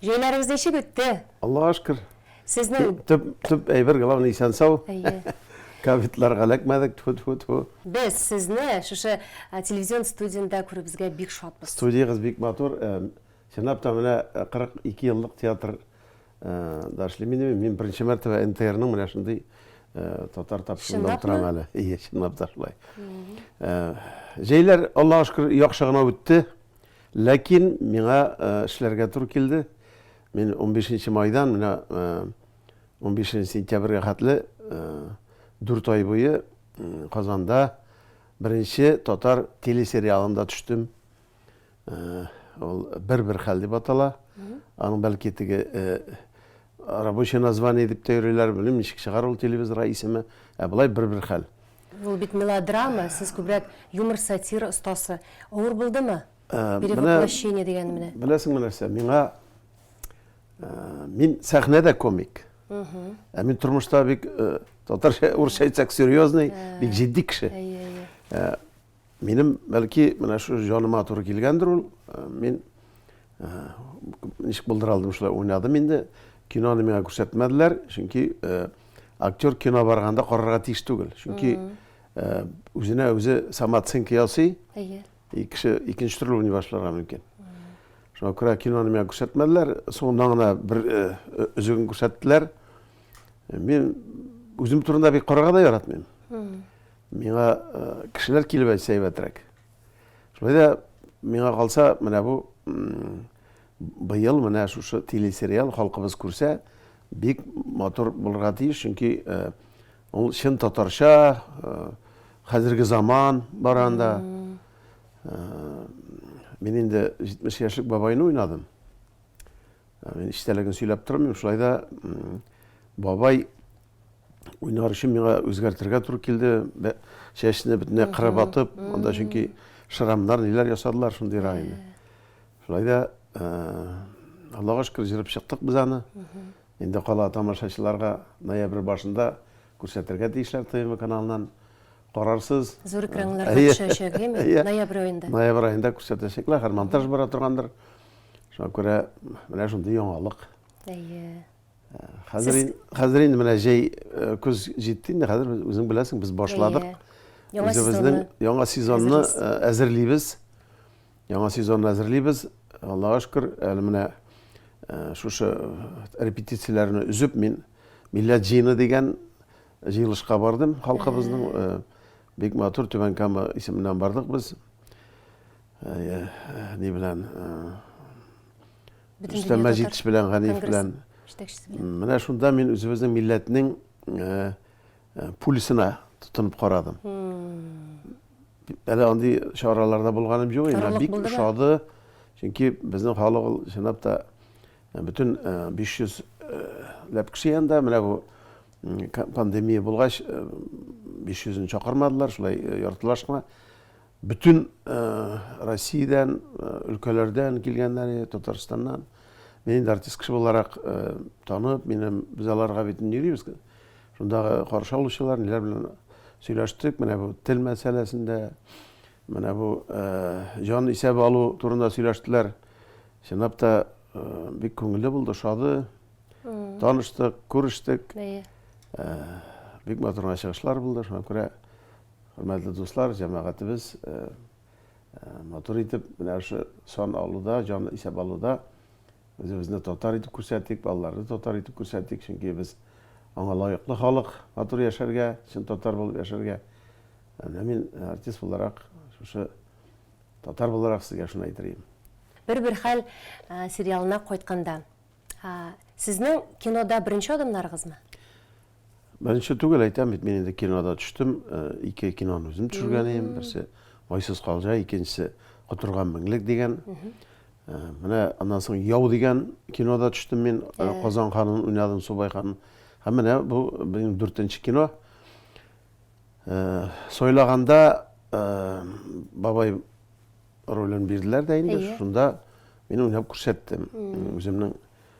Җәйләрегез ничек үтте? Аллага шөкер. Сезнең Төп, төп әйбер, главный, исән-сау. Әйе. Ковидларга эләкмәдек, тьфу-тьфу-тьфу. Без сезне шушы телевизион студиядә күрүебезгә бик шатбыз. Студиягез бик матур. Чынлап та, менә 42 еллык театр да эшлим инде мин. Мин беренче мәртәбә НТРның менә шундый татар тапшыруында утырам әле. Чынлапмы? Әйе, чынлап та шулай. Җәйләр, Аллага шөкер, яхшы гына үтте. Ләкин миңа эшләргә туры килде. Мин унбишенче майдан менә унбишенче сентябрьгә хәтле дүрт ай буе Казанда беренче татар телесериалында төштем. Ул Бер-бер хәл дип атала. Аның бәлки теге Рабочее название дип тә йөриләр, белмим, ничек чыгар ул телевизорга исеме, ә болай бер-бер хәл. Ул бит мелодрама, сез күбрәк юмор-сатира остасы. Авыр булдымы? Перевоплощение дигән менә. Беләсеңме нәрсә, миңа мин сәхнәдә комик. Ә мин тормышта бик татарча, урысча әйтсәк, серьезный, бик җитди кеше. Минем, бәлки, менә шу җаныма туры килгәндер ул. Мин ничек булдыра алдым, шулай уйнадым инде. Киноны миңа күрсәтмәделәр, чөнки актер кино барганда карарга тиеш түгел. Чөнки үзенә үзе самооценка ясый. Әйе. И кеше икенче төрле уйный башларга мөмкин. Шуңа күрә киноны миңа күрсәтмәделәр. Соңыннан гына бер өзеген күрсәттеләр. Мин үзем турында бик карарга да яратмыйм. Миңа кешеләр килеп әйтсә әйбәтрәк. Шулай да миңа калса, менә бу быел менә шушы телесериал халкыбыз күрсә, бик матур булырга тиеш, чөнки ул чын татарча, хәзерге заман бар анда. Мин инде 70 яшьлек бабайны уйнадым. Мин истәлеген сөйләп тормыйм, шулай да бабай уйнар өчен миңа үзгәртергә туры килде. Чәчне бөтенләй кырып атып, анда чөнки шрамнар, ниләр ясадылар шундый райны. Шулай да Аллага шөкер җырып чыктык без аны. Инде кала тамашачыларга ноябрь башында күрсәтергә тиешләр ТМ каналыннан. Карарсыз. Зур экраннарда төшәчәк, әйме? Ноябрь аенда. Ноябрь аенда күрсәтәчәкләр, хәзер монтаж бара торгандыр. Шуңа күрә менә шундый яңалык. Әйе. Хәзер хәзер инде менә җәй э, көз җитте инде, хәзер үзең беләсең, без башладык. Яңа сезонны яңа сезонны э, әзерлибез. Яңа сезонны әзерлибез. Аллага шөкер, әле менә э, шушы репетицияләрне үзеп мин Милләт җыены дигән җыелышка бардым. Халкыбызның бик матур Түбән Кама исеменнән бардык без. Ни белән Рөстәм Мәҗитович белән, Ганиев белән. Менә шунда мин үзебезнең милләтнең э, э, пульсына тотынып карадым. Әле андый чараларда булганым юк, инде бик ошады. Чөнки безнең халык ул чынлап та э, бөтен 500 ләп кеше янында менә бу пандемия булгач 500-н чакырмадылар, шулай яртылашма Бөтен Россиядән, өлкәләрдән килгәннәр иде, Татарстаннан. Мин инде артист кеше буларак танып, минем без аларга бит инде йөрибез. Шундагы каршы алучылар, ниләр белән сөйләштек, менә бу тел мәсьәләсендә, менә бу җан исәбе алу турында сөйләштеләр. Чынлап та бик күңелле булды, шады. Таныштык, күрештек. Бик матур гына чыгышлар булды, шуңа күрә Хөрмәтле дуслар, җәмәгатебез матур итеп менә шушы сан алуда, җан исәп алуда үзебезне татар итеп күрсәтик, балаларны татар итеп күрсәтик, чөнки без аңа лаеклы халык, матур яшәргә, чын татар булып яшәргә. Менә мин артист буларак, шушы татар буларак сезгә шуны әйтергә. Бер-бер хәл сериалына кайтканда, сезнең кинода беренче адымнарыгызмы? Беренче түгел әйтәм бит, мин инде кинода төштем. Э, ике киноны үзем төшергән идем. Берсе Вайсыз калжа, икенчесе Котырган меңлек дигән. Э, менә аннан соң Яу дигән кинода төштем мин. Э, Казан ханын уйнадым, Субай ханын. Һәм менә бу минем дүртенче кино. Сойлаганда бабай ролен бирделәр дә инде. Шунда мин уйнап күрсәттем. Үземнең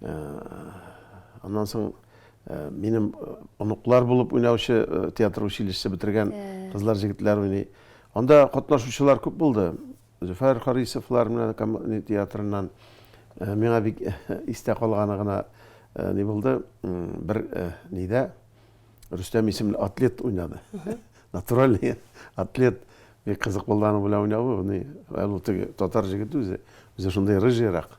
Аннан соң минем оныклар булып уйнаучы театр училищесы бетергән кызлар, җегетләр уйный. Анда катнашучылар күп булды. Зөфәр Харисовлар менә коммуни театрыннан миңа бик истә калганы гына ни булды, бер нидә Рөстәм исемле атлет уйнады. Натуральный атлет. Бик кызык булды аның белән уйнавы. Ул татар җегете үзе. Үзе шундый рыжийрак.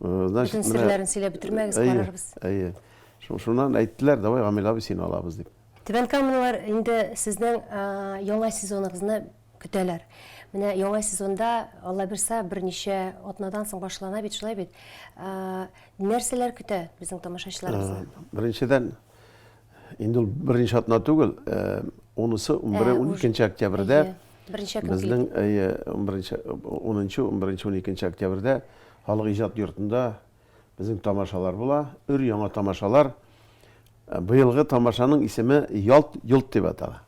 Значит, Бөтен серләрен сөйләп бетермәгез, карарбыз. Әйе. Шуннан әйттеләр, давай Гамил абый сине алабыз дип. Түбән Камалар инде сезнең яңа сезоныгызны көтәләр. Менә яңа сезонда Алла бирса берничә атнадан соң башлана бит, шулай бит. Нәрсәләр көтә безнең тамашачыларыбызны? Беренчедән Инде ул беренче атна түгел, унысы, унбере, уникенче октябрьдә. Беренче көн. Безнең, әйе, унберенче, унынчы, унберенче, уникенче октябрьдә халык иҗат йортында безнең тамашалар була. Өр яңа тамашалар. Быелгы тамашаның исеме Ялт йолт дип атала.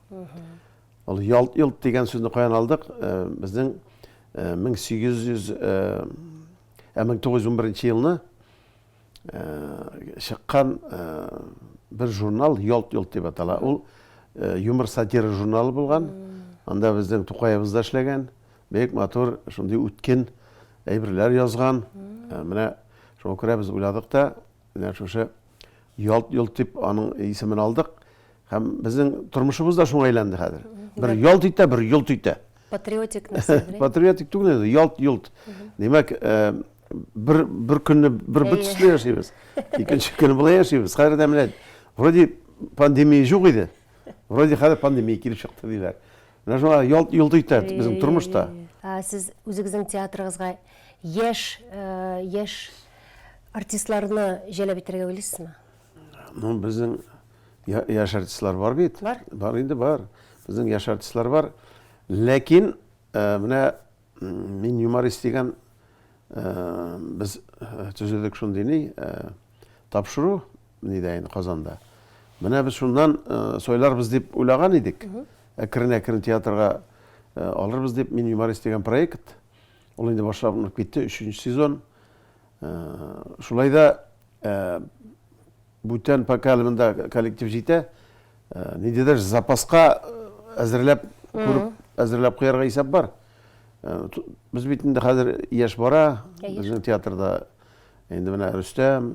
Ул Ялт йолт дигән сүзне каян алдык? Безнең 1800 ә 1911 елны чыккан бер журнал Ялт-йолт дип атала. Ул юмор сатира журналы булган. Анда безнең Тукаебыз да эшләгән. Бик матур, шундый үткен әйберләр язган. Менә шуңа күрә без уйладык та, менә шушы Ялт-йолт дип аның исемен алдык. Һәм безнең тормышыбыз да шуңа әйләнде хәзер. Бер ялт итә, бер йолт итә. Патриотик нәрсә белән? Патриотик түгел инде, ялт-йолт. Димәк, э, бер бер көнне бер бер төсле яшибез. Икенче көнне болай яшибез. Хәзер дә менә вроде пандемия юк иде. Вроде хәзер пандемия килеп чыкты диләр. Менә шуңа ялт-йолт итә безнең тормышта. Сез үзегезнең театрыгызга яшь э, яшь артистларны җәлеп итәргә уйлыйсызмы? Ну, безнең яшь артистлар бар бит. Бар. Бар инде бар. Безнең яшь артистлар бар. Ләкин э, менә мин юморист дигән э, без э, төзедек шундый ни тапшыру нидә инде Казанда. Менә без шуннан сойларбыз дип уйлаган идек. Әкрен-әкрен театрга алырбыз дип мин юморист дигән проект. Ул инде башланып китте, 3 сезон. Шулай да бүтән поколемында коллектив җитә. Ниндидер запаска әзерләп күреп, әзерләп куярга исәп бар. Без бит инде хәзер яшь бара, безнең театрда инде менә Рөстәм,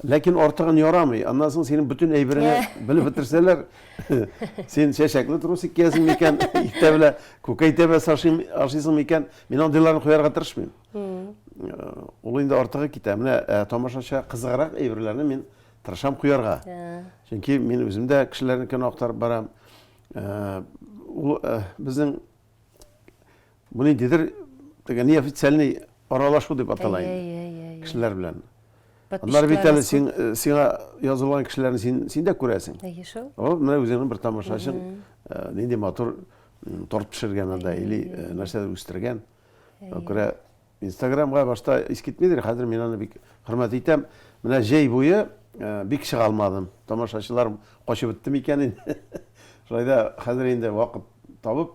Ләкин артыгын ярамый. Аннан соң синең бөтен әйбереңне белеп бетерсәләр, син чәчәкле трусик киясең микән, иртә белән күкәй тәбәс ашыйсың микән? Мин андыйларны куярга тырышмыйм. Ул инде артыгы китә. Менә ә, тамашачыга кызыграк әйберләрне мин тырышам куярга. Чөнки мин үзем дә кешеләрнекен актарып барам. Ә, ул ә, безнең Бу ниндидер теге неофициальный аралашу дип атала инде. Кешеләр белән. Аннар бит әле син сиңа язылган кешеләрне син син дә күрәсең. Әйе шул. О, менә үзеңнең бер тамашачың нинди матур торт пешергән анда или нәрсәдер үстергән. Күрә Инстаграмга башта ис китмидер, хәзер мин аны бик хөрмәт итәм. Менә җәй буе бик чыга алмадым. Тамашачыларым качып бетте микән инде? Шулай да хәзер инде вакыт табып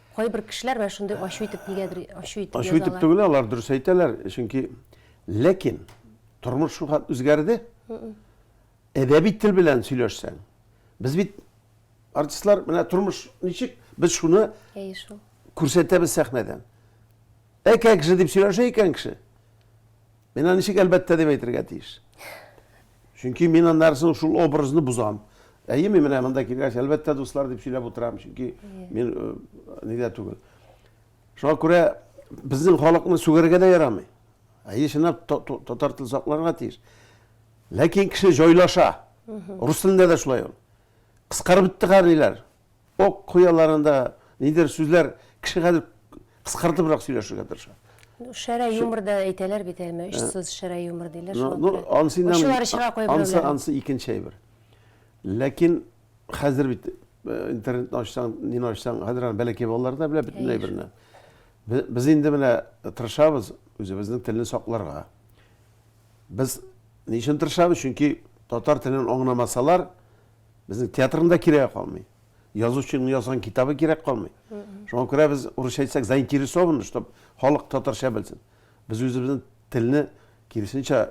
Кайбер кешеләр менә шундый ачу итеп нигәдер ачу итеп язалар. Ачу итеп түгел, алар дөрес әйтәләр, чөнки ләкин тормыш шулхәт үзгәрде. Әдәби тел белән сөйләшсәң, без бит артистлар менә тормыш ничек, без шуны күрсәтәбез сәхнәдән. Әкәк же дип сөйләшә икән кеше. Мин аны ничек әлбәттә дип әйтергә тиеш? Чөнки мин аннары соң шул образны бозам. Әйе, мин менә монда килгәч, әлбәттә, дуслар дип сөйләп утырам, чөнки мин э, нидә түгел. Шуңа күрә безнең халыкны сүгәргә дә ярамый. Әйе, чынлап татар телен сакларга тиеш. Ләкин кеше җайлаша. Рус телендә дә шулай ул. Кыскарып бетте хәрлиләр. Ок куяларында нидер сүзләр кеше хәзер кыскартыбрак сөйләшергә тырыша. Шәрә юмор да әйтәләр бит әлме, очсыз шәрә юмор диләр шуңа ну, күрә. Ансы инде Ошылар чыга куя ансы, берәүләр. ансы икенче әйбер. Ләкин хәзер бит э, интернетны ачсаң, нине ачсаң, хәзер аны бәләкәй балалар да белә бөтен әйберне. Бе- Без инде менә тырышабыз үзебезнең телне сакларга. Без ни өчен тырышабыз? Чөнки татар телен аңламасалар, Безнең театрның да кирәге калмый. Язучының язган китабы кирәк калмый. Шуңа күрә без урысча әйтсәк заинтересованы, чтобы халык татарча белсен. Без үзебезнең телне киресенчә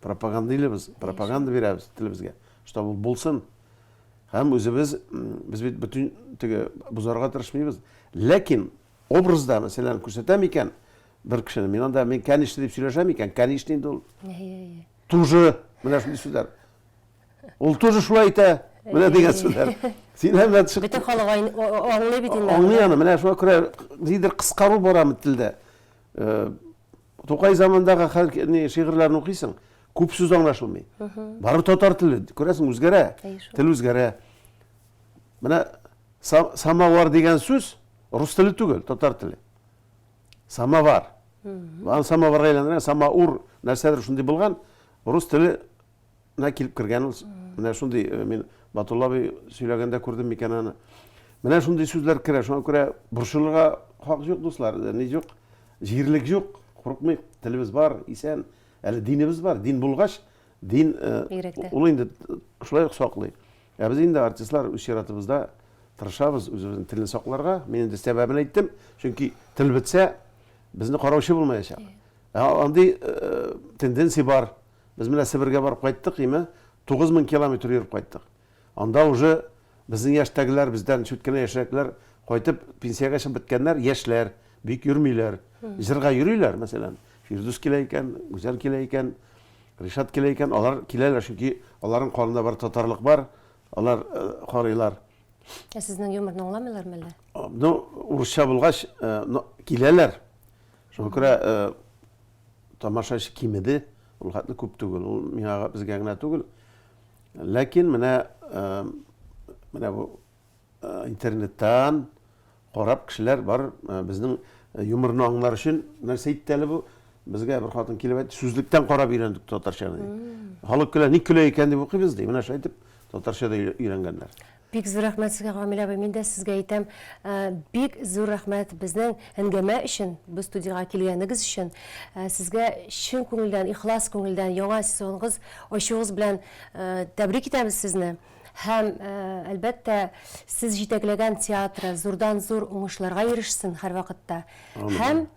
пропагандыйлыбыз, пропаганда бирәбез телебезгә, чтобы ул булсын. Һәм үзебез без бит бөтен теге бозарга тырышмыйбыз. Ләкин образда, мәсәлән, күрсәтәм икән бер кешене, мин анда мин кәнишне дип сөйләшәм икән, кәнишни инде ул. Тоже менә шундый сүзләр. Ул тоже шулай әйтә. Менә дигән сүзләр. Син һәммә чык. Бөтен халык аңлый бит инде. Аңлый аны. Менә шуңа күрә нидер кыскару бара бит телдә. Э, Тукай замандагы хәл ни шигырьләрен укыйсың, күп сүз аңлашылмый. Бары татар теле, күрәсең, үзгәрә. Тел үзгәрә. Менә самовар дигән сүз рус теле түгел, татар теле. Самовар. Аны самоварга әйләндергән, самаур нәрсәдер шундый булган. Рус теле Менә килеп кергән ул, менә шундый, э, мин Батулла абый сөйләгәндә күрдем микән аны. Менә шундый сүзләр керә, шуңа күрә борчылырга хак юк, дуслар, э, ни юк, җирлек юк, курыкмыйк, телебез бар, исән, әле динебез бар, дин булгач, дин э, ул инде шулай ук саклый. Ә без инде артистлар үз чиратыбызда тырышабыз үзебезнең телне сакларга. Мин инде сәбәбен әйттем, чөнки тел бетсә, безне караучы булмаячак. Ә андый э, тенденция бар. Без менә Себергә барып кайттык, име, тугыз мең километр йөреп кайттык. Анда уже безнең яшьтәгеләр, бездән чүт кенә яшьрәкләр кайтып, пенсиягә чыгып беткәннәр, яшьләр, бик йөрмиләр. Җырга йөриләр, мәсәлән, Фирдүс килә икән, Гүзәл килә икән, Ришат килә икән, алар киләләр, чөнки аларның канында бары татарлык бар, алар карыйлар. Ә сезнең юморны аңламыйлармы әллә? Ну, урысча булгач, киләләр. Шуңа күрә Тамашачы кимеде, ул хәтле күп түгел. Ул миңа безгә генә түгел. Ләкин менә менә бу интернеттан карап кешеләр бар безнең юморны аңлар өчен нәрсә әйтте әле бу? Безгә бер хатын килеп әйтте, сүзлектән карап өйрәндек татарчаны ди. Халык көлә, ник көлә икән дип укыйбыз ди. Менә шулай итеп татарча да өйрәнгәннәр. Бик зур рәхмәт сезгә Камилә абый, мин дә сезгә әйтәм, бик зур рәхмәт безнең әңгәмә өчен, без студиягә килгәнегез өчен. Сезгә чын күңелдән, ихлас күңелдән яңа сезонгыз ачуыгыз белән тәбрик итәбез сезне. Һәм, әлбәттә, сез җитәкләгән театры зурдан-зур уңышларга ирешсен һәрвакытта. Амин. Һәм